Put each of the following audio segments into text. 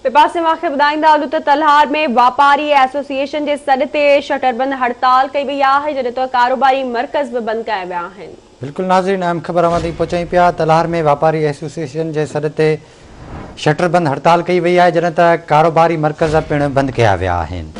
ٻئي پاسي اوهان کي ٻڌائيندا هلون ته تلهار ۾ واپاري ايسوسيئيشن جي سڏ تي شٽر بند هڙتال ڪئي وئي آهي جڏهن ته ڪاروباري مرڪز به بند ڪيا ويا آهن. بلڪل ناظرين اهم خبر اوهان تائين پهچائين پيا تلهار ۾ واپاري ايسوسيئيشن جي سڏ تي شٽر بند هڙتال ڪئي وئي آهي جڏهن ته ڪاروباري مرڪز پڻ بند ڪيا ويا آهن.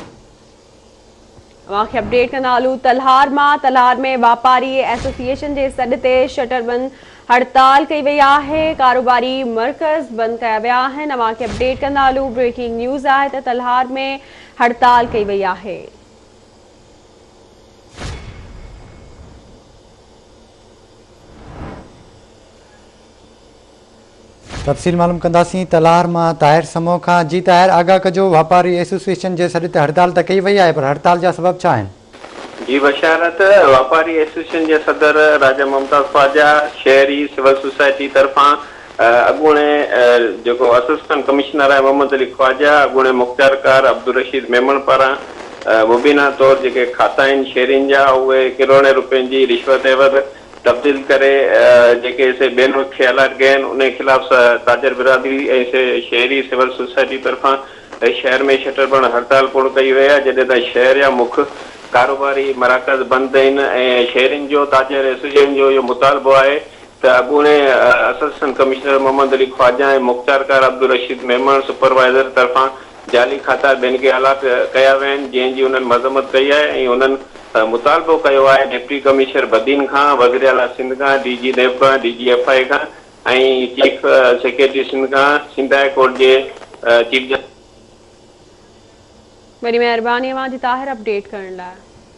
اوهان کي اپڊيٽ ڪندا هلون تلهار مان تلهار ۾ واپاري ايسوسيئيشن جي سڏ تي شٽر بند هڙتال ڪئي وئي آهي ڪاروباري مرڪز بند ڪيا ويا آهن اوهان کي اپڊيٽ ڪندا هلون بريڪنگ نيوز آهي ته تلهار ۾ هڙتال ڪئي وئي آهي تفصيل معلوم ڪنداسين تلهار مان طاهر سمون کان جي طاهر آگاهه ڪجو واپاري ايسوسيئيشن جي سڏ تي هڙتال ته ڪئي وئي آهي پر هڙتال جا سبب ڇا آهن؟ جي بشارت واپاري ايسوسيئيشن جي صدر راجا ممتاز خواجا شهري سول سوسائٽي طرفان اڳوڻي جيڪو اسسٽنٽ ڪمشنر آهي محمد علي خواجا اڳوڻي مختيارڪار عبدالرشيد ميمڻ پاران مبينا طور جيڪي کاتا آهن شهرين جا اهي ڪروڙين روپين جي رشوت عيوض تبديل ڪري جيڪي سي بين کي الائٽ ڪيا آهن انهي خلاف سه تاجر برادري ۽ سه شهري سول سوسائٽي طرفان شهر ۾ شٽر بند هڙتال پڻ ڪئي وئي آهي جڏهن ته شهر جا مک ڪاروباري مراڪز بند آهن ۽ شهرين جو تاجر ايسوسيئشن جو اهو مطالبو آهي ته اڳوڻي اسسٽنٽ ڪمشنر محمد علي خواجا ۽ مختيارڪار عبدالرشيد ميمڻ سپروائيزر طرفان جعلي کاتا بين کي الاٽ ڪيا ويا آهن جنهن جي انهن مذمت ڪئي آهي ۽ انهن مطالبو ڪيو آهي ڊپٽي ڪمشنر بدين کان، وزيراعليٰ سنڌ کان، ڊي جي نيب کان، D G F I A کان ۽ چيف سيڪريٽري سنڌ کان، سنڌ هاء ڪورٽ جي چيف جسٽس. وڏي مهرباني اوهان جي طاهر اپڊيٽ ڪرڻ لاء.